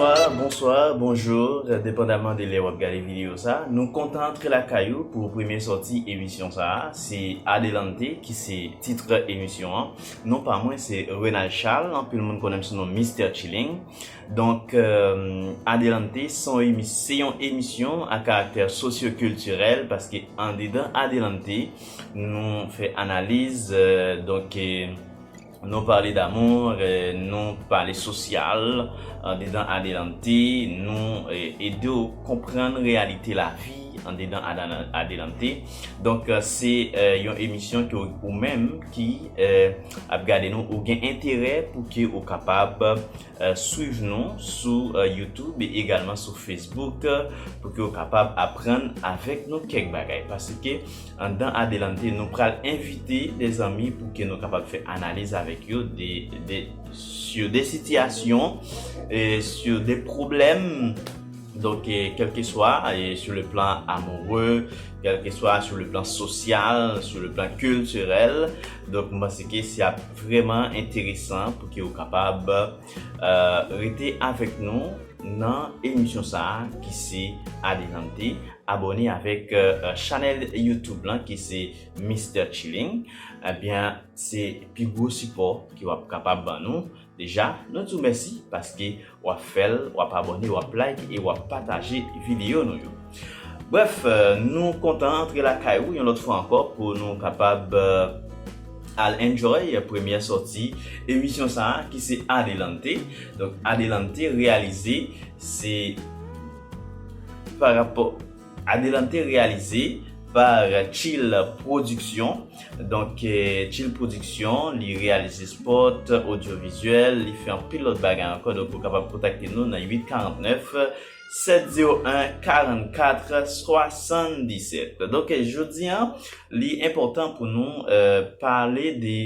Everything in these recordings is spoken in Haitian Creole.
Bonsoir, bonsoir, bonjour, depandaman de lè wap gade video sa, nou kontan antre lakay ou pou premye sòti emisyon sa, se Adelante ki se titre emisyon an, non pa mwen se Renald Charles, anpil moun konnen m sou non Mister Chilling. Donk, Adelante se yon emisyon a karaktè sosyokiltirèl paske andedan Adelante nou fè analiz, donk nou pale d'amour, nou pale sosyal andedan Adelante, nou ede w konprann reyalite lavi andedan Adelante. Donk, se yon emisyon ke ou menm ki ap gade nou ou gen enterè pou ke ou kapab Swiv nou sou YouTube e egalman sou Facebook pou ke w kapab aprann avèk nou kèk bagay. Paske anndan Adelante nou pral envite de zanmi pou ke nou kapab fè analiz avèk yo de sur de sitiyasyon e sur de pwoblèm donk kèlkeswa sur le plan amoureux, kèlkeswa sur le plan social, sur le plan culturel donk m panse ke se ap Vrèman enteresan pou ke ou kapab rete avèk nou nan emisyon sa a ki se Adelante. Abòne avèk chanèl YouTube lan ki se Mister Chilling. Ebyen se pi gwo sipò ke wap kapab ban nou. Deja nou di w mèsi paske Wap fèl, wap abòne, wap like e wap pataje videyo nou yo. Brèf, nou kontan antre lakay ou yon lòt fwa ankò pou nou kapab al enjoy premyè sòti emisyon sa a ki se Adelante. Donk Adelante reyalize se pa rapò. Adelante reyalize par Tchill Production Donk Tchill Production li reyalize spot, odyovizyèl, li fè anpil lòt bagay ankò donk ou kapab kontakte nou nan 849 701 44 77 Donk jodi an li enpòtan pou nou pale de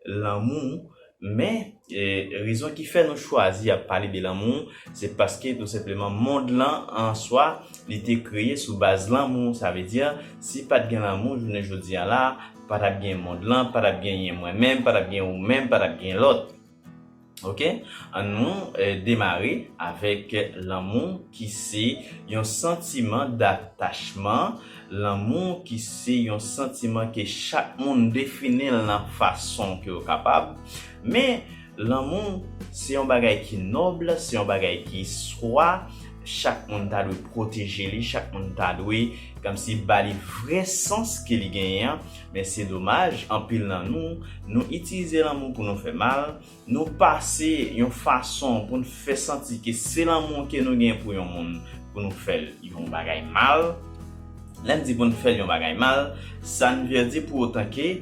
lanmou Men, rezon ki fè nou chwazi ap pale de lanmou, se paske tou senpleman mond lan an swa, li te kreye sou baz lanmou. Sa vle di, si pa t gen lanmou jounen jodi a la, pa t ap gen mond lan, pa t ap genyen mwen menm, pa t ap gen ou menm, pa t ap gen lòt. Ok, an nou demare avèk lanmou ki se yon santiman datachman. Lanmou ki se yon santiman ke chak moun defini l nan fason ke yo kapab, men lanmou se yon bagay ki nòb, se yon bagay ki swa, chak moun ta dwe pwoteje li, chak moun ta dwe kòmsi ba li vrè sans ke li genyen an, men se domaj anpil nan nou, nou itilize lanmou pou nou fè mal, Nou pase yon fason pou n fè santi ke se lanmou ke nou gen pou yon moun pou nou fè l yon bagay mal. Lè n di pou n fè l yon bagay mal, sa n vle di pou otan ke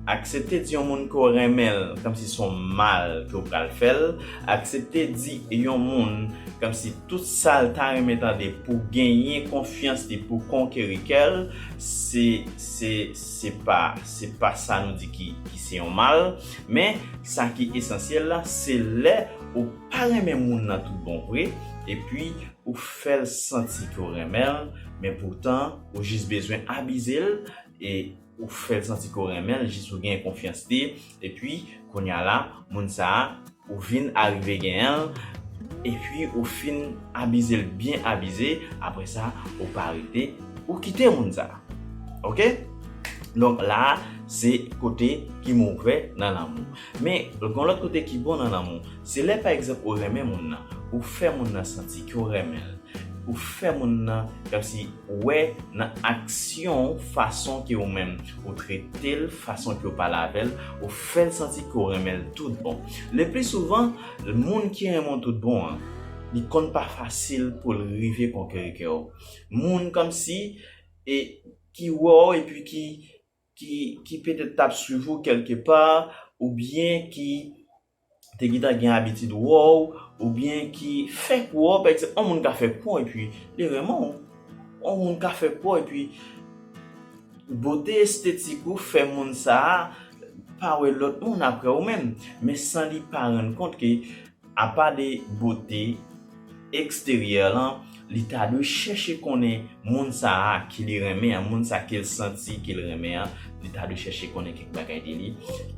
aksepte di yon moun ke w renmen l kòmsi se yon mal ke w pral fè l, aksepte di yon moun kòmsi tout sa l ta renmen tande pou genyen konfyans li, pou konkeri kè l, se pa sa nou di ki se yon mal. Men, sa ki esansyèl la, se lè ou pa renmen moun nan tout bon vre, epi ou fè l santi ke w renmen l, men poutan ou jis bezwen abize l, e ou fè l santi ke w renmen l jis pou w genyen konfyans li, epi kounya la, moun sa a Ou vin arive genyen l, epi ou fin abize l byen abize, apre sa ou pa rete, ou kite moun sa. Ok? Donk la a se kote ki move nan lanmou. Men, gen yon lòt kote ki bon nan lanmou. Se lè pa egzanp ou renmen moun nan, ou fè moun nan santi ke w renmen l, ou fè moun nan kòmsi wè nan aksyon w fason ke ou menm Ou trete l fason ke w pale avè l, ou fè l santi ke w renmen l tout bon. Lepli souvan, moun ki renmen w tout bon an, li konn pa fasil pou l rive konkeri kè w. Moun kòmsi e ki wè w epi ki petèt t ap swiv ou kèlke pa oubyen ki. te gintan gen abitid wè w oubyen ki fenk wè w, pa egzanp yon moun ka fè pon epi li renmen w, yon moun ka fè pon epi bote estetik ou fè moun sa a pa wè lòt moun aprè ou menm men san li pa rann kont ke apa de bote. eksteryè lan, li ta dwe chèche konnen moun sa a ke li renmen an, moun sa a ke l santi ke l renmen an, li ta dwe chèche konnen kèk bagay de li.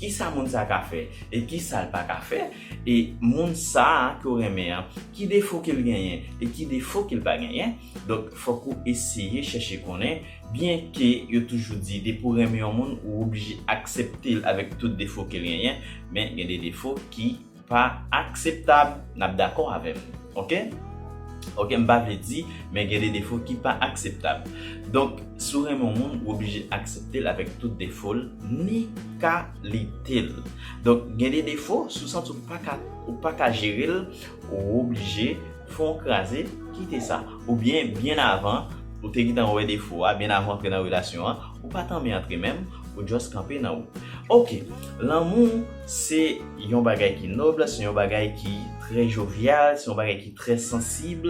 Kisa moun sa a ka fè e kisa l pa ka fè? E moun sa a ke w renmen an, ki defo ke l genyen e ki defo ke l pa genyen? Donk, fòk ou eseye chèche konnen, byenke yo toujou di depi w renmen yon moun, ou oblije aksepte l avèk tout defo ke l genyen, men gen de defo ki pa akseptab nap dakò avèm ok ok m pa vle di men gen de defo ki pa akseptab donk si w renmen yon moun ou oblije aksepte l avèk tout defo l ni kalite l donk gen de defo si w santi w paka ou paka jere l ou oblije fè yon kraze kite sa oubyen byen avan ou te gentan wè defo a byen avan w antre nan relasyon an ou pa tanmen antre menm ou just kanpe nan wout ok lanmou Se yon bagay ki noble, se yon bagay ki trè jovyal, se yon bagay ki trè sansib.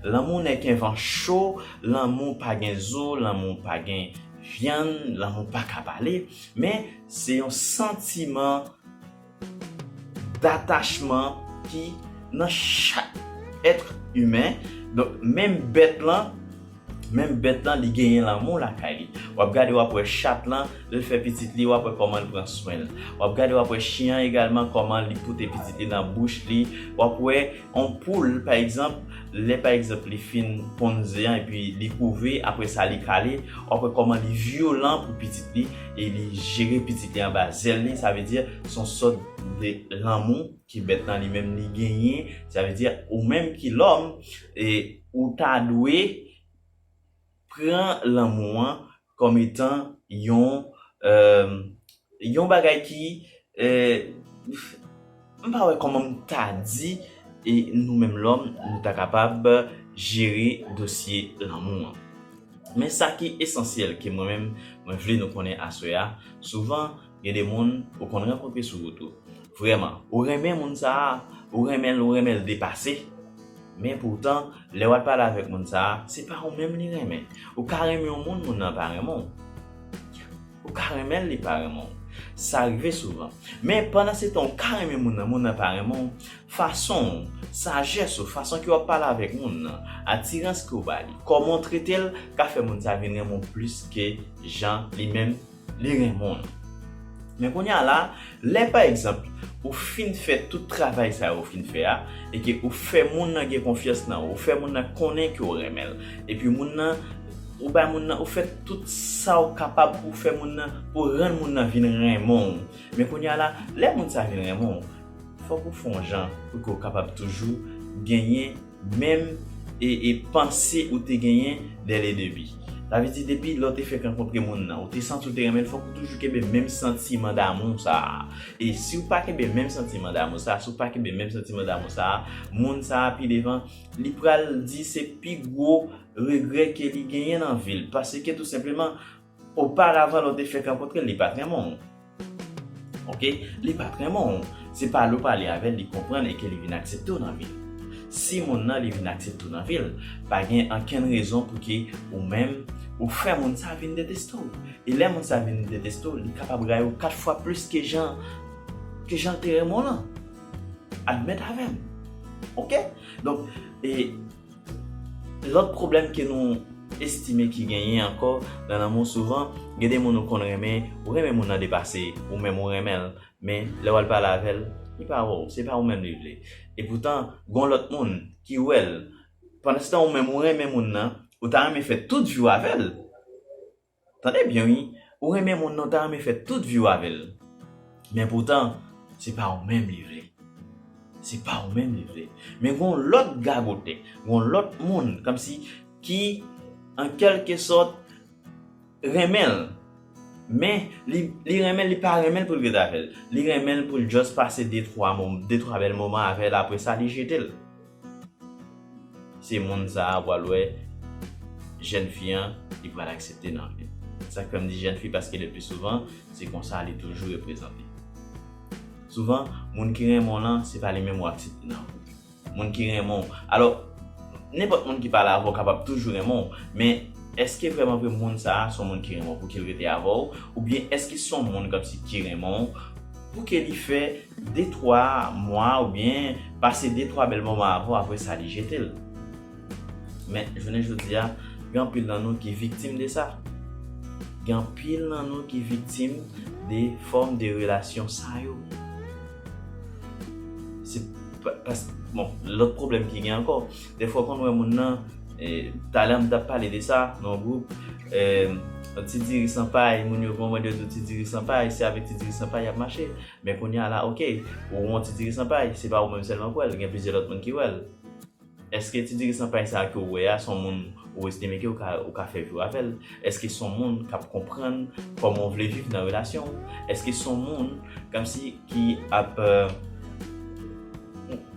Lanmou nèk en van cho, lanmou pa gen zo, lanmou pa gen vyann, lanmou pa ka pale. Men, se yon santiman datachman ki nan chak èt imen. Donk, menm bèt lan. Menm bèt lan li genyen lanmou lakay li. Wap gade wap wè chat lan lèl fè pitit li wap wè kòmanl pran swenl. Wap gade wap wè chyen an egalman kòman li pote pitit li nan bouch li. Wap wè on poul pa egzanp lè pa egzanp li fin ponn ze an epi li kouve aprè sa li kale wap wè kòman li vyolan pou pitit li e li jere pitit li anba zèl li sa vle di son sòt de lanmou ke bèt lan li menm li genyen sa vle di ou menm ki lòm e Ou ta dwe pran lanmou an kòm etan yon yon bagay ki m pa wè kòman m ta di e nou menm lòm nou ta kapab jere dosye lanmou an. Men sa ki esansyèl ke mwen menm mwen vle nou konnen aswè a, souvan Gen de moun ou konn rankontre sou wout ou. Vrèman, ou renmen moun sa a, ou renmen l, ou renmen l depase. Men poutan, lè w al pale avèk moun sa a, se pa ou menm li renmen. Ou ka renmen yon moun, moun nan pa renmen w. Ou ka renmen l, li pa renmen w. Sa rive souvan. Men, pandansetan ou ka renmen moun nan, moun nan pa renmen w, fason w, sajès ou, fason ke w ap pale avèk moun nan, atirans ke w ba li, kòman w trete l ka fè moun sa a vin renmen w plis ke jan li menm Li renmnw. Men kounye a la, lè pa egzanp ou fin fè tout travay sa yo ou fin fè a, e ke ou fè moun nan gen konfyans nan ou, ou fè moun nan konnen ke ou renmen l, epi moun nan, ou bay moun nan, ou fè tout sa ou kapab pou fè moun nan, pou rann moun nan vin renmen w. Men kounye a la, lè moun sa vin renmen w, fòk ou fè yon jan pou ke ou kapab toujou genyen. menm e panse ou te genyen dè le debi. Sa vle di depi lè w te fèk rankontre moun nan, ou te santi w te renmen l, fòk ou toujou kenbe menm santiman damou sa a. E si w pa kenbe menm santiman damou sa a, si w pa kenbe menm santiman damou sa a, moun sa a pi devan, li pral di se pi gwo regrè ke li genyen nan vi l. Paske tou senpleman, Oparavan lè w te fèk rankontre l, li pa t renmen w. Ok, li pa t renmen w. Se pale w pale avè l, li konprann e ke li vin aksepte w nan vi l. Si moun nan li vin aksepte w nan vi l, pa gen ankenn rezon pou ke ou menm ou fè moun sa vin deteste w. E lè moun sa vin deteste w, li kapab rayi w 4 fwa plis ke jan ke jan l te renmen w lan. Admèt avè m. Ok? Donk, e. Lòt pwoblèm ke nou estime ki genyen ankò nan lanmou souvan gen de moun ou konn renmen, ou renmen moun nan depase ou menm ou renmen l men lè wal pale avè l li pa wè w se pa ou menm li vle epoutan gon lòt moun ki wè l pandanstan ou menm ou renmen moun nan ou ta renmen fè tout vi w avè l Tande byen wi, ou renmen moun nan ou ta renmen fè tout viw avèl. Men poutan, se pa ou menm li vle. Se pa ou menm li vle. Men gon lòt gagotè, gon lòt moun kòmsi ki an kèlke sòt renmenl. Men li renmenl li pa renmenl poul ret avèl. Li renmenl poul just pase de twa bèl moman avèl apresa li jetel. Se moun sa a pral wè jèn fi an, li pral aksepte l anpil. Sa k fè m di jèn fi paske lepli souvan, se konsa li toujou reprezante. Souvan, moun ki renmen w lan, se pa li menm ou aksepte nan koup. Moun ki renmen w, alò, nenpòt moun ki pale avè w kapab toujou renmen w, men, èske vrèman vre moun sa a s on moun ki renmen w pou ki l rete avè w, oubyen èske s on moun kòmsi ki renmen w, Pou ke li fè de twa mwa ou byen pase de twa bèl moman avè w apre sa li jete l. Men, jounen jodi a, gen anpil nan nou ki viktim de sa. Gen anpil nan nou ki viktim de fòm de relasyon sa yo. Se, pas, bon, lòt pwoblèm ki gen ankò, Defwa w konn wè moun nan, talè m tap pale de sa nan yon gwoup, yon ti diri san pay, moun yo konprann yo di w ti diri san pay, se avèk ti diri san pay y ap mache. Men kounye a la ok, ou wè yon ti diri san pay, se pa ou menm sèlman k wè l, gen plizyè lòt moun ki wè l. Èske ti diri san pay sa a ke w wè a, se yon moun ou estime ke ou ka fè vi w avè l? Èske se yon moun k ap konprann kòman w vle viv nan relasyon w? Èske se yon moun kòmsi ki ap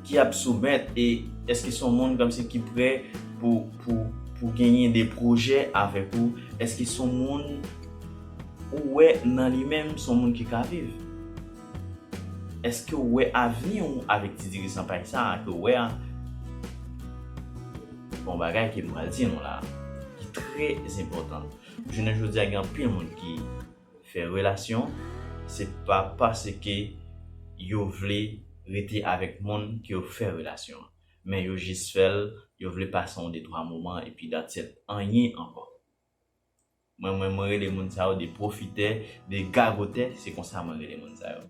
ki ap soumèt e eske son moun kòmsi ki prè pou pou pou genyen de pwojè avèk ou eske son moun ou wè nan li menm son moun ki ka viv eskew wè avni ou avèk ti diri san pay sa ke ou wè a bon bagay ke m pral di nou la ki trè enpòtan jounen jodi a gen anpil moun ki. fè relasyon, se pa paske yo vle rete avèk moun ke yo fè relasyon an. Men yo jis fè l, yo vle pase yon detwa moman epi that's it, anyen ankò. Mwen menm mwen rele moun sa yo de pwofitè, de gagotè, se konsa mwen rele moun sa yo.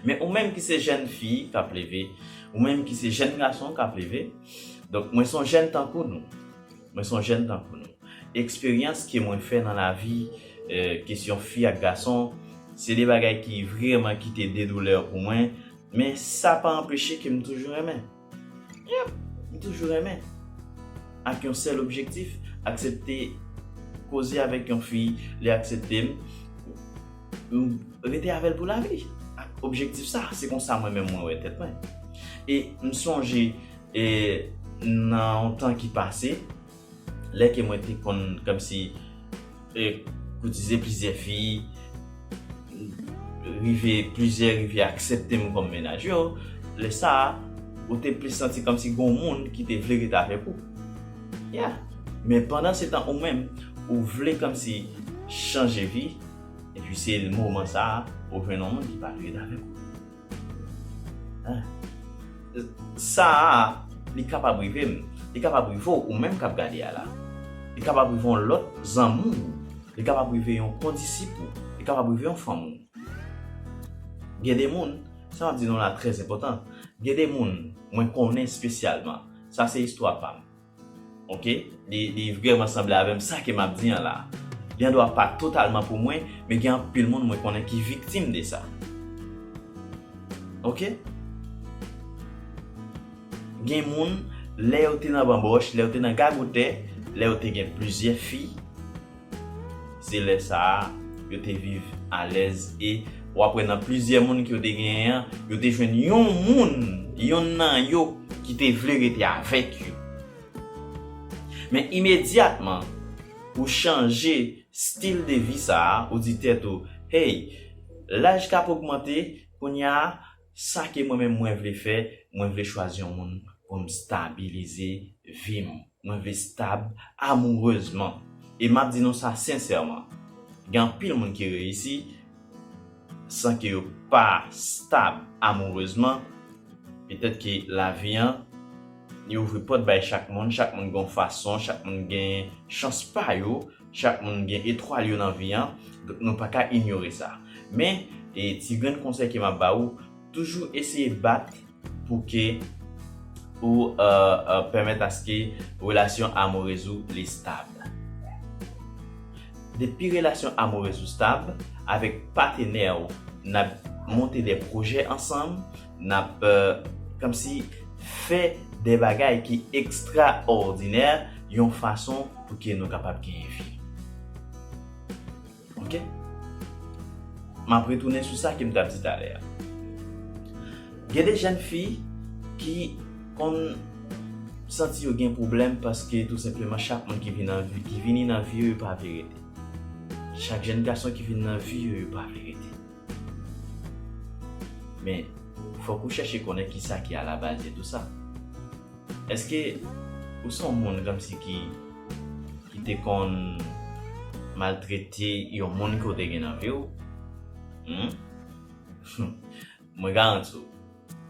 Men ou menm ki se jèn fi k ap leve, ou menm ki se jèn gason k ap leve, donk mwen se yon jèn tankou nou. Mwen son jèn tankou nou. Eksperyans ke mwen fè nan lavi, kesyon fi ak gason, se 2 bagay ki vreman kite 2 doulè pou mwen, men sa pa anpeche ke m toujou renmen. Yep! M toujou renmen. Ak yon sèl objektif, aksepte koze avèk yon fi, li aksepte m, m rete avè l pou lavi. Ak objektif sa, se konsa mwen menm mwen wè tèt mwen. E m sonje. E nan yon tan ki pase, lè ke mwen te konn kòmsi e koutize plizyè fi, rive plizyè rive aksepte m kòm mennaj yo, lè sa a, ou te plis santi kòmsi gen yon moun ki te vle ret avèk ou. Ya! Men pandan se tan ou menm, ou vle kòmsi chanje vi, epi se moman sa a, ou jwenn yon moun ki pa vle ret avèk ou. Sa a, li kapab rive m, li kapab rive w, ou menm k ap gade a la. Li kapab rive yon lòt zanmi w, li kapab rive yon kondisip ou, li kapab rive yon fanmi w. Gen de moun, sa m ap di nou la trèzenpòtan, gen de moun mwen konnen espesyalman, sa se istwa pa m. Ok li vrèman sanble avèm sa ke map di an la li andwa pa totalman pou mwen men gen anpil moun mwen konnen ki viktim de sa ok gen moun lè yo te nan banbòch lè yo te nan gagotè lè yo te gen plizyè fi. Se lè sa a, yo te viv alèz e, w ap wè nan plizyè moun ke yo te genyen an, yo te jwenn yon moun, yonn nan yo, ki te vle rete avèk yo. Men imedyatman, ou chanje stil de vi sa a, ou di tèt ou, Hey, laj k ap ogmante, kounye a, sa ke mwen menm mwen vle fè, mwen vle chwazi yon moun pou m stabilize vi m. Mwen vle stab amourezman. E map di nou sa sensèman, gen anpil moun ki reyisi san ke yo pa stab amourezman. Petèt ke lavi an, li ouvri pòt bay chak moun, chak moun gen yon fason, chak moun gen chans pa yo, chak moun gen etwal yo nan vi an, donk nou pa ka inyore sa. Men, ti grenn konsèy ke map ba ou, toujou eseye bat. pou ke ou pèmèt aske relasyon amourez ou li stab. Depi relasyon amourez ou stab, avèk patenè ou, nap monte de pwojè ansanm, nap komsi fè de bagay ki ekstra òdinè yon fason pou ke nou kapab genyen fi. Ok. M ap retounen sou sa ke m t ap di talè a. Gen de jèn fi ki konn santi yo gen pwoblèm paske tou senpleman chak moun ki vini nan vi yo, yo pa vle rete. Chak jèn gason ki vini nan vi yo, yo pa vle rete. Men, fòk ou chèche konnen ki sa ki alabaz de tou sa. Èske ou se yon moun kòmsi ki. ki te konn maltrete yon moun ke w te gen nan vi w, hum, mwen garanti w,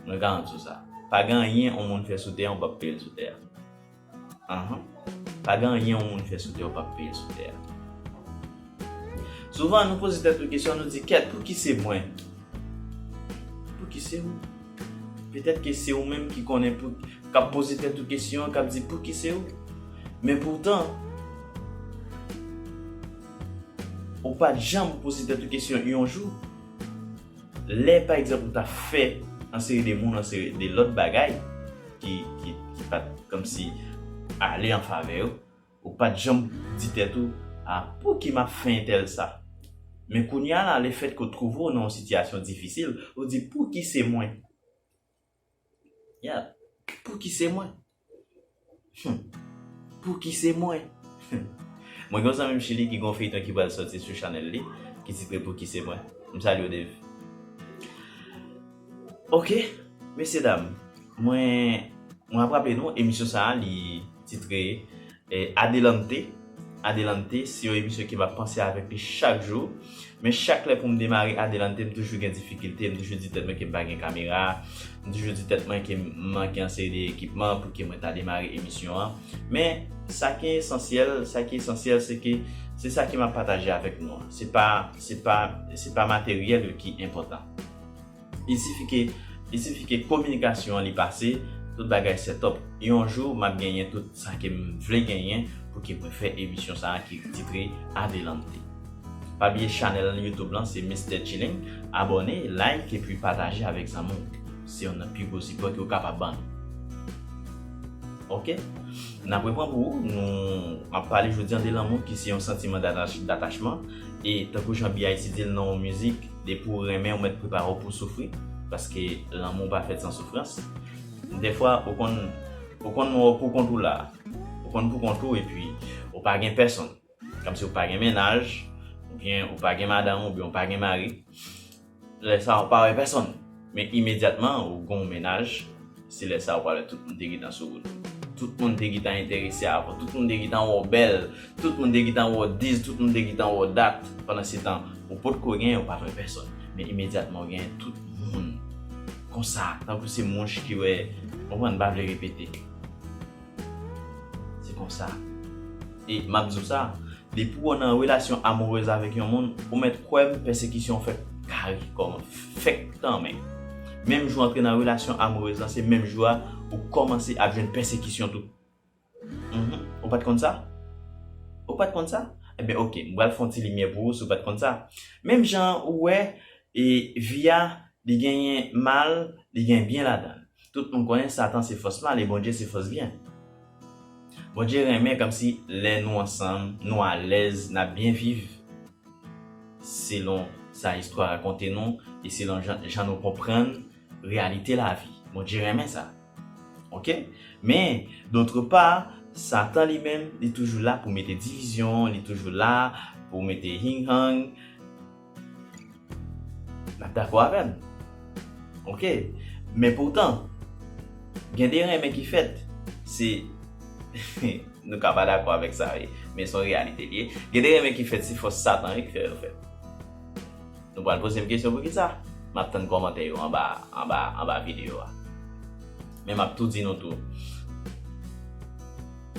mwen garanti w sa, pa gen anyen yon moun fè sou tè a ou pap peye l sou tè a. Anhan, pa gen anyen yon moun fè sou tè a ou pap peye l sou tè a. Souvan nou poze tèt nou kesyon nou di kèt pouki se mwen? Pouki se ou? Petèt ke se ou menm ki konnen pou kap poze tèt ou kesyon kap di pouki se ou? Men poutan ou pat janm poze tèt ou kesyon yon jou? Lè pa egzanp ou ta fè yon seri de moun yon seri de lòt bagay ki pat kòmsi ale an favè yo. Ou pa t janm di tèt ou, A pouki m ap fè entèl sa? Men kounye a la, lefètke w twouve w nan yon sitiyasyon difisil, ou di, Pouki se mwen? Yeah! Pouki se mwen? Hum! Pouki se mwen? Hum! Mwen gen yon zanmi m Chili ki gen yon feyton ki pral soti sou chanèl li ki titre Pouki se mwen? M salye w Dave. Ok mesye dam mwen mwen ap raple nou emisyon sa a li titre Adelante Adelante se yon emisyon ke map panse avèk li chak jou men chak lè poum demare Adelante m toujou gen difikilte m toujou di tèt mwen kem pa gen kamera m toujou di tèt mwen kem manke yon seri de ekipman pouki mwen ta demare emisyon an men sa ki esansyèl sa ki esansyèl se ke se sa ke map pataje avèk nou an se pa se pa se pa materyèl yo ki enpòtan. Li sifi ke, li sifi ke kominikasyon an li pase, tout bagay sètòp. Yon jou map genyen tout sa kem vle genyen pou ke mwen fè emisyon sa ki titre Adelante. Pa bliye chanèl YouTube lan se Mister Chilling, abòne, like epi pataje avèk zanmi w. Se yon nan pi gwo sipò ke w kapab ban nou. Ok. Nap repran pou ou, nou map pale jodi an de lanmou ki se yon santiman datachman e tankou jan BIC di l nan yon mizik, Depi ou renmen ou mèt prepare w pou soufri paske lanmou pa fèt san soufrans. Dèfwa ou konn ou konn wè w poukont ou la. Ou konn poukont ou epi ou pa gen pèsonn. Kòmsi ou pa gen mennaj oubyen ou pa gen madanm oubyen ou pa gen mari. Lè sa ou pa wè pèsonn. Men imedyatman ou gonw mennaj, se lè sa ou pral wè tout moun te gintan sou wout. Tout moun te gintan enterese avè w, tout moun te gintan wè w bèl, tout moun te gintan wè w diz, tout moun te gintan wè w dat. Pandan se tan ou potko genyen, ou pat wè pèsòn. Men imedyatman ou genyen tout moun konsa, tankou se mouch ki wè, konprann, m pa vle repete. Se konsa. E m ap di w sa, depi w nan relasyon amourez avèk yon moun, ou mèt kwè m pèsekisyon fèk karikòman, fèk tanmen. Menm jou w antre nan relasyon amourez lan, se menm jou a ou kòmanse ap jwenn pèsekisyon tou. Enhen, ou pa t konn sa? Ou pa t konn sa? Enben ok, m pral fè yon ti limyè pou ou si w pa t konn sa. Menm jan an ou wè, e vi a li genyen mal, li genyen byen ladan l. Tout moun konnen satan se fòs mal e Bondye se fòs byen. Bondye renmen kòmsi lè nou ansanm nou alèz nap byen viv selon sa istwa rakonte nou e selon jan nou konprann reyalite lavi. Bondye renmen sa ok men dotre pa satan li menm li toujou la pou mete divizyon li toujou la pou mete hing hang. Nap dakò avèm ok men poutan gen de renmen ki fèt se nou ka pa dakò avèk sa wi men son reyalite li ye gen de renmen ki fèt se fòs satan wi ki fè yo fèt nou pral pozem kesyon poukisa map tann kòmantè yo anba anba anba video a. Men map tou di nou tou.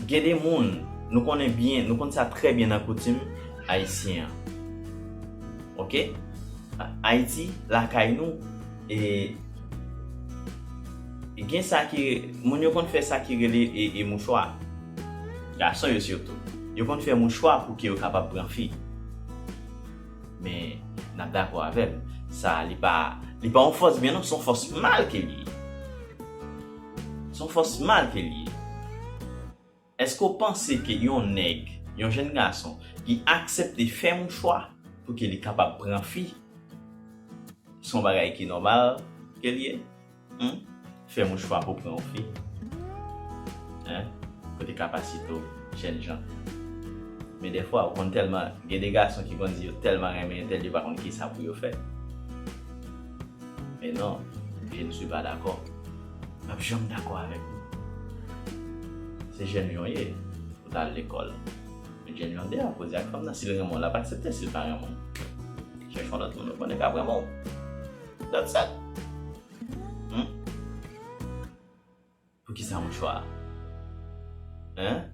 Gen de moun, nou konnen byen, nou konn sa trè byen nan koutim ayisyen an. Ok? Ayiti, lakay nou, e gen sa ki, moun yo konn fè sa ki rele e mouchwa. Gason yo sitou. Yo konn fè mouchwa pou ke yo kapab pran fi. Men nap dakò avèm. Sa li pa li pa yon fòs byen non son fòs mal ke li ye. Son fòs mal ke li ye. Eske w panse ke yon nèg, yon jenn gason ki aksepte fè yon chwa pou ke li kapab pran fi son bagay ki nòmal ke li ye? Humm fè mouche fwa pou pran yon fi hein kote kapasite w jènjan men dèfwa ou konn tèlman gen de gason ki konn di yo tèlman renmen yon tèl yo pa konn kisa pou yo fè men non je ne suis pas d'accord pap janm dakò avèk ou se jènjan w ye ou ta al lekòl men jènjan de a koze ak fanm nan si l renmen w l ap aksepte si l pa renmen w chèch yon lòt moun ou konnen k ap renmen w. That's it. Hum? Pou ki sa mouchwa a? Hein?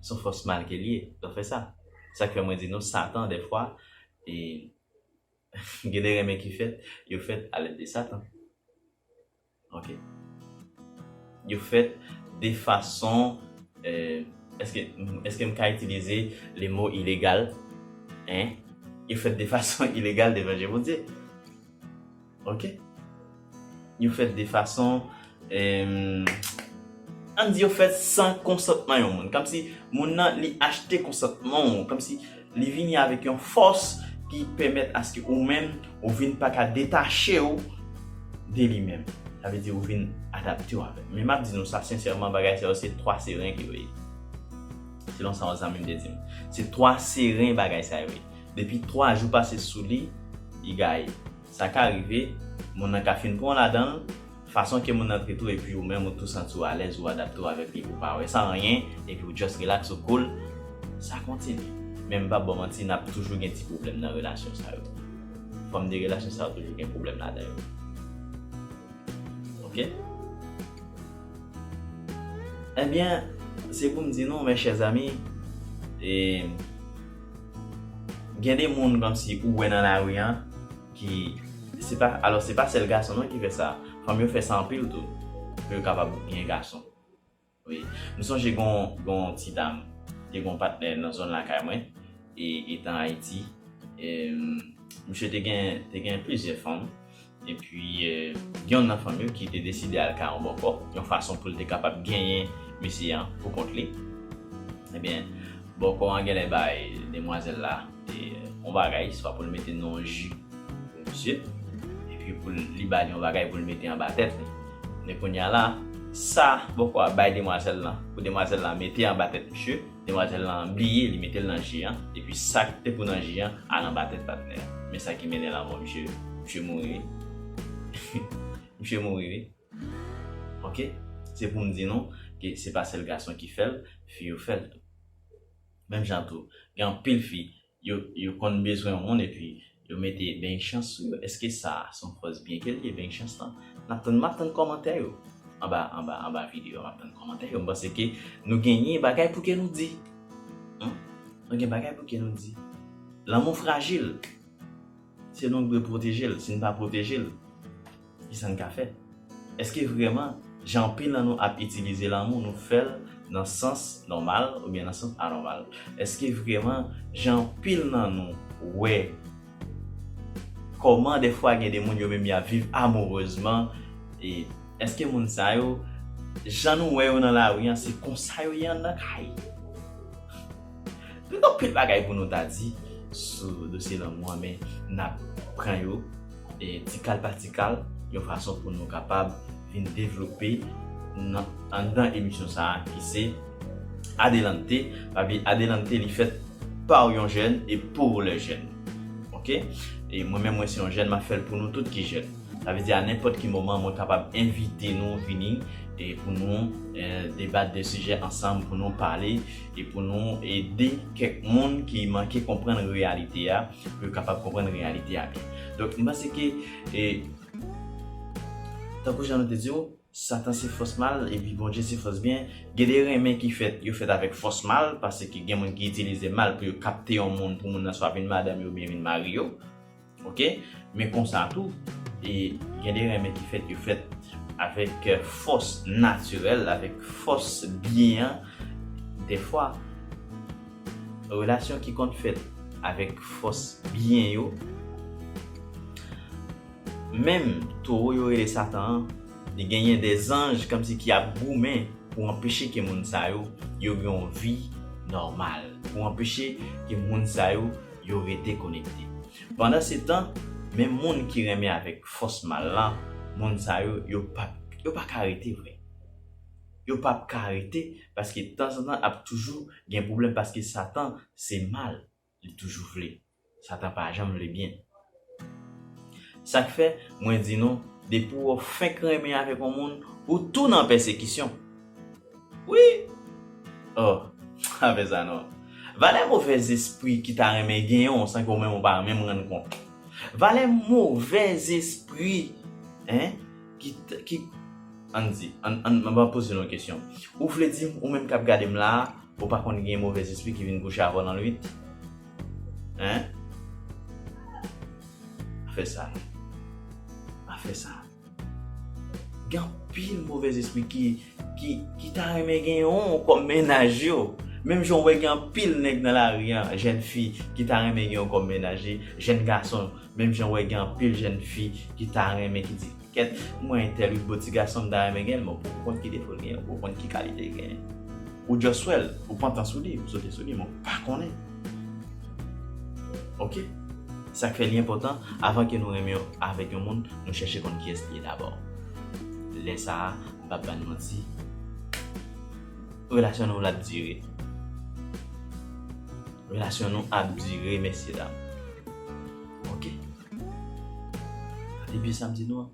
Son fòs mal ke l ye, l ap fè sa. Sa k fè mwen di nou Satan dèfwa e gen de renmen ki fèt, yo fèt a lèd de Satan. Ok. Yo fèt de fason Eske eske m ka itilize le mo ilegal? Hein? Yo fèt de fason ilegal devan je Bondye. Ok. Yo fèt de fason An n di yo fèt san konsantman yon moun. Kòmsi moun nan li achte konsantman w. Kòmsi Li vini avèk yon fòs ki pèmèt aske ou menm ou vin pa ka detache ou de li menm. Sa vle di ou vin adapte ou avè l. Men m ap di nou sa sensèman bagay sa yo se twa seren ke yo ye. Selon sa yon zanmi m te di m. Se twa seren bagay sa yo ye. Depi twa jou pase sou li, li gaye. Sa ka rive, moun nan ka fin pran w ladan l. Fason ke moun nan trete w epi ou menm ou tou santi w alèz ou adapte w avèk li ou pa wè sa anyen epi ou just relax ou cool sa kontinye men m pap ba w manti nap toujou gen ti pwoblèm nan relasyon sa yo fòm de relasyon sa yo toujou gen pwoblèm ladan yo ok ebyen se pou m di nou mes chers amis e gen de moun kòmsi ou wè nan lari an. ki se pa alò se pa sèl gason non ki fè sa fanm yo fè sa anpil tou pou yo kapab gen gason wi m sonje gon gon ti dam te gon patnè nan zòn lakay mwen e etan ayiti e misye te gen te gen plizyè fanm epi gen youn nan fanm yo ki te deside al kay yon bòkò yon fason pou l te kapab genyen mesye an pou kont li ebyen bòkò an genlè bay demwazèl la yon bagay swa poul mete nan yon ju pou misye epi pou li bali yon bagay poul mete anba tèt li men kounya la sa bòkò a bay demwazèl lan pou demwazèl lan mete anba tèt misye demwazèl lan bliye li metel nan ji an epi sak te pou nan ji an al anba tèt patnè a men sa ki mennen lanmò misye misye mouri wi misye mouri wi ok se poum di nou ke se pa sèl gason ki fèl fi yo fèl tou. Menm jan tou, gen anpil fi, yo yo konn bezwen yon moun epi yo mete beny chans sou yo, eske sa son fòs byen kel ye beny chans lan? Nap tann map tann kòmantè yo anba anba anba video a map tann kòmantè yo m panse ke nou genyen bagay pou ke nou di humm nou gen bagay pou ke nou di lanmou frajil se nou k dwe pwotejel si n pa pwotejel Ki sa n ka fè? Èske vrèman, jan anpil nan nou ap itilize lanmou nou fè l nan sans nòmal oubyen nan sans anòmal? Èske vrèman, jan anpil nan nou wè kòman dèfwa gen de moun yo menm y ap viv amourezman, e èske moun sa yo, jan nou wè yo nan lari an, se konsa yo ye anndan kay? Nou gen anpil bagay pou nou ta di sou dosye lanmou an men n ap pran yo ti kal pa ti kal yon fason pou nou kapab vin devlope nan anndan emisyon sa a ki se Adelante papi Adelante li fèt pa w yon jèn e pou lè jèn ok e mwen menm mwen se yon jèn m ap fè l pou nou tout ki jèn sa vle di a nenpòt ki moman mwen kapab envite nou vini e pou nou debat de sijè ansanm pou nou pale e pou nou ede kèk moun ki manke konprann reyalite a pou yo kapab konprann reyalite a byen. Donk, m panse ke e tankou jan nou te di yo, Satan se fòs mal epi Bondye se fòs byen. Gen de renmen ki fèt, yo fèt avèk fòs mal, paske gen moun ki itilize mal pou yo kapte yon moun pou moun nan swa vin madanm yo oubyen vin mari yo. Ok men konsa tou e gen de renmen ki fèt yo fèt avèk fòs natirèl avèk fòs byen an dèfwa relasyon ki konn fèt avèk fòs byen yo menm towo yo rele satan an li genyen de zanj kòmsi ki ap goumen pou anpeche ke moun sa yo yo gen yon vi nòmal pou anpeche ke moun sa yo yo rete konekte. Pandansetan, men moun ki renmen avèk fòs mal lan, moun sa yo, yo pap, yo pa ka rete vre. Yo pap ka rete paske tanzantan ap toujou gen pwoblèm paske Satan se mal li toujou vle. Satan pa janm vle byen. Sak fè mwen di nou depi ou fenk renmen avèk yon moun ou tou nan pèsekisyon wi oh pa fè sa non valè movè zespri ki ta renmen genyenw san ke ou menm ou pa menm rann kont valè movè zespri hein ki ki ann di ann map poze nou yon kesyon ou vle dim ou menm kap gadem la ou pa konn gen movè zespri ki vin kouche avèw nan nwit Hein? Pa fè sa. Pa fè sa. Gen anpil movèz espri ki ki ki ta renmen gen yon kòm mennaj yo. Menm jan ou wè gen anpil nèg nan lari an, jèn fi ki ta renmen gen yon kòm mennaj li, jèn gason menm jan ou wè gen anpil jèn fi ki ta renmen ki di Kèt mwen tèl yn bo ti gason mta renmen genl men ou konn ki defol genyen ou poko konn ki kalitel genyen ou just wèl ou pantan sou li ou sote sou li men ou pa konnen ok sak fè li enpòtan avan ke nou renmen avèk yon moun nou chèche konn kiyès li ye dabò lè sa mpap bann manti relasyon nou lap dire relasyon nou ap dire mesye dam ok. Depi samdi nou an.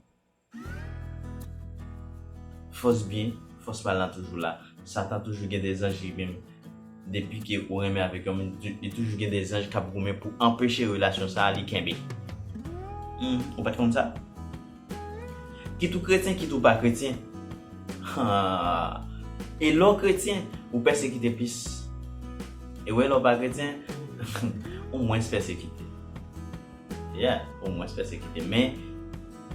Fòs byen, fòs mal la toujou la. Satan toujou gen de zanj li menm. Depi ke ou renmen avèk yon moun, li toujou gen de zanj kap goumen pou anpeche relasyon sa li kenbe. Ou pat konn sa? Kit ou kretyen kit ou pa kretyen Aah E lè w kretyen ou pèsekite plis E wè lè w pa kretyen ou mwens pèsekite Yeah ou mwens pèsekite men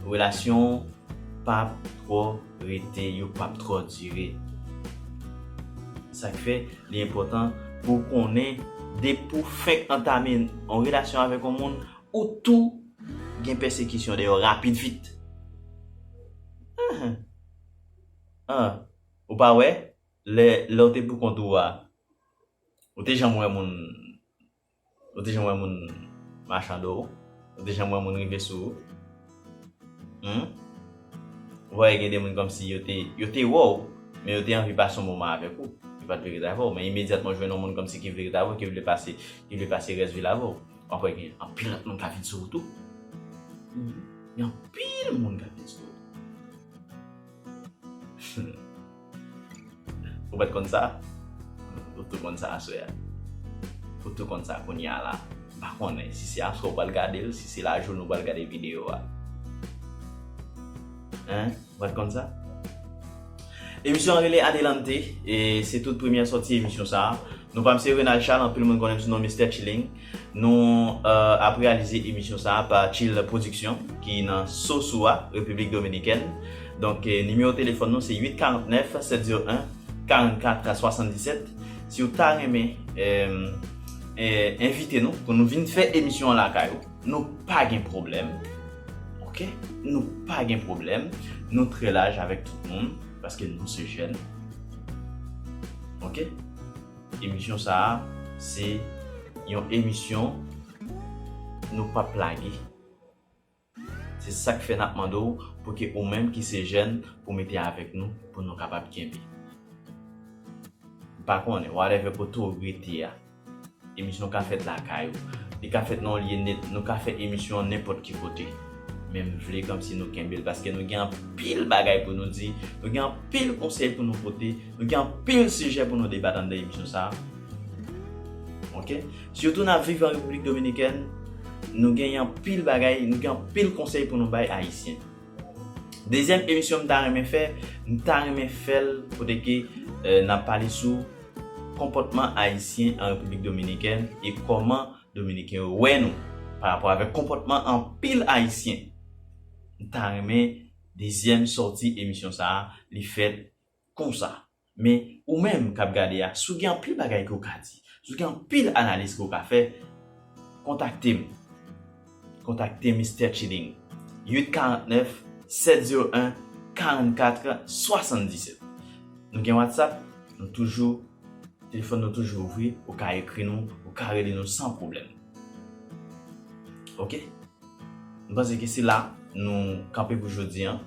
relasyon w pap twò rete yo pap twò dire Sa k fè li enpòtan pou w konnen depi w fenk antame yon relasyon avèk yon moun ou tou Gen pèsekisyon deyò rapid vit. Ahh ahh ou pa wè lè lè ou te pou kont ou a ou te janm wè moun ou te janm wè moun machando ou ou te janm wè moun rive sou ou humm ou pa wè gen de moun kòmsi yo te yo te wè ou men yo te anvi pase yon moman avèk ou yo pat vle ret avè ou men imedyatman ou jwenn yon moun kòmsi ki vle ret avè ou ki vle pase ki vle pase rès vil avè ou. Wap wè gen anpil lòt moun ka vin sou ou tou. Gen anpil moun ka vin sou ou. Ou pat konn sa? Ou tou konn sa aswè a. Ou tou konn sa kounye a la. M pa konnen si se aswè ou pral gade l, si se lajounen ou pral gade videyo a. Hein? Ou pat konn sa? Emisyon an rele Adelante e se tout premyè sòti emisyon sa. Nou pam se Renald Charles, anpil moun konnen m sou non Mistè Tchilling. Nou ap reyalize emisyon sa pa Tchill Production ki nan Sosua, Repiblik Dominikèn. Donk nimewo telefòn nou se 849 701 44 77. Si ou ta renmen envite nou pou nou vin fè emisyon an lakay ou. Nou pa gen pwoblèm ok nou pa gen pwoblèm nou trè laj avèk tout moun paske nou se jèn ok emisyon sa a se yon emisyon nou pap lage se sak fè nap mande w pou ke ou menm ki se jèn pou mete avèk nou pou nou kapab kenbe m pa konnen whatever kote w rete a. Emisyon ka fèt lakay ou, li ka fèt nan yon lye net, nou ka fè emisyon an nenpòt ki kote. Men m vle kòmsi nou kenbe l paske nou gen anpil bagay pou nou di, nou gen anpil konsèy pou nou pote, nou gen anpil sijè pou nou debat anndan emisyon sa a. Ok. Sitou n ap viv an Repiblik Dominikèn, nou gen anpil bagay, nou gen anpil konsèy pou nou bay Ayisyen. Dezyèm emisyon m ta renmen fè, m ta renmen fè l kote ke n ap pale sou. Konpòtman Ayisyen an Repiblik Dominikèn e kòman Dominiken yo wè nou pa rapò avèk konpòtman anpil Ayisyen. M ta renmen dezyèm sòti emisyon sa a li fèt konsa. Men, ou menm k ap gade a, si w gen anpil bagay ke w ka di, si w gen anpil analiz ke w ka fè, kontakte m. Kontakte Mistè Chilling 849 701 44 77 Nou gen Whatsapp Nou toujou Telefòn nou toujou ouvri Ou ka ekri nou Ou ka rele nou san pwoblèm Ok M panse ke se la nou kanpe pou jodi an.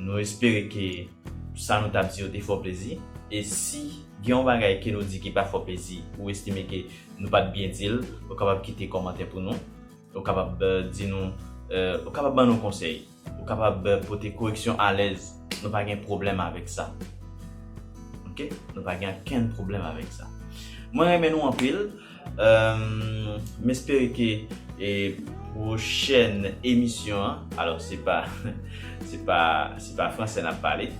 Nou espere ke sa nou tap di yo te fè w plezi. E si gen yon bagay ke nou di ki pa fè w plezi, ou estime ke nou pat byen di l, ou kapab kite kòmantè pou nou. Ou kapab di nou, ou kapab ban nou konsèy, ou kapab pote koreksyon alèz. Nou pa gen pwoblèm avèk sa. Ok, nou pa gen ankenn pwoblèm avèk sa. Mwen renmen nou anpil. M espere ke pwochèn emisyon an, alò se pa se pa se pa fransè n ap pale,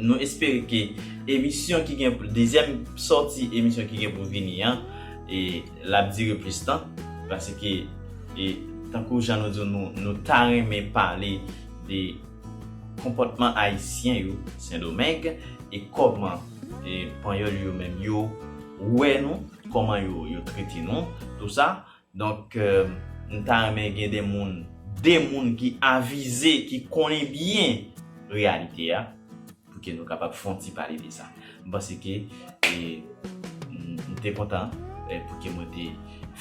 nou espere ke emisyon ki gen dezyèm sòti emisyon ki gen pou vini an l ap dire plis tan paske tankou jan nou di w nou ta renmen pale de Konpòtman Ayisyen yo Sendomeng e kòman Panyòl yo menm yo wè nou, kòman yo trete nou, tou sa. Donk, m ta renmen gen de moun, de moun ki avize, ki konnen byen reyalite a. Pou ke nou kapab fon ti pale de sa. M panse ke m te kontan pou ke mwen te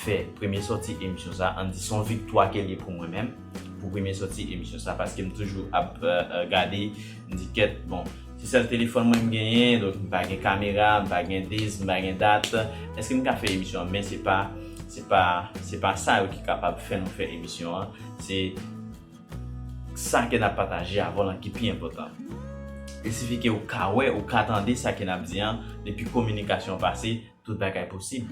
fè premye sòti emisyon sa. An di son viktwa ke l ye pou mwen menm. Pou premye sòti emisyon sa. Paske m toujou ap gade. M di kèt bon. Se sèl telefòn mwen m genyen. Donk m pa gen kamera. M pa gen dis. M pa gen dat. Eske m ka fè emisyon an. Men se pa se pa sa yo ki kapab fè nou fè emisyon an. Se. Sa ke n ap pataje avè w lan ki pi enpòtan. E sifi ke ou ka wè, ou ka tande sa ke n ap di an, depi kominikasyon pase, tout bagay posib.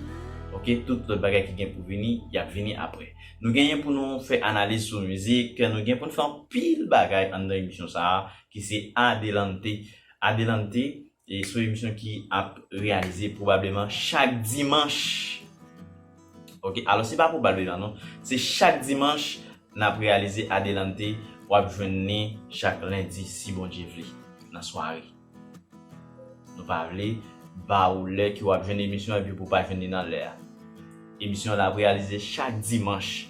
Ok, tout lòt bagay ki gen pou vini, y ap vini apre. Nou genyen pou nou fè analiz sou mizik, nou gen pou n fè anpil bagay anndan emisyon sa a ki se Adelante. Adelante E son emisyon ki ap reyalize pwobableman chak dimanch. Ok, alò se pa pwobableman non, se chak dimanch n ap reyalize Adelante. W ap jwenn li chak lendi si Bondye vle nan sware. Nou pa vle ba ou lè ke w ap jwenn emisyon epi pou w pa jwenn li nan lè a. Emisyon an ap reyalize chak dimanch.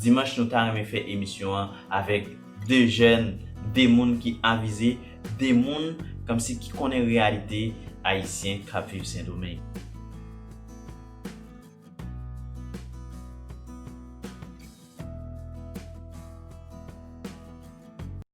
Dimanch nou ta renmen fè emisyon an avèk 2 jèn, 2 moun ki avize, 2 moun kòmsi ki konnen reyalite ayisyen k ap viv Sendomeng.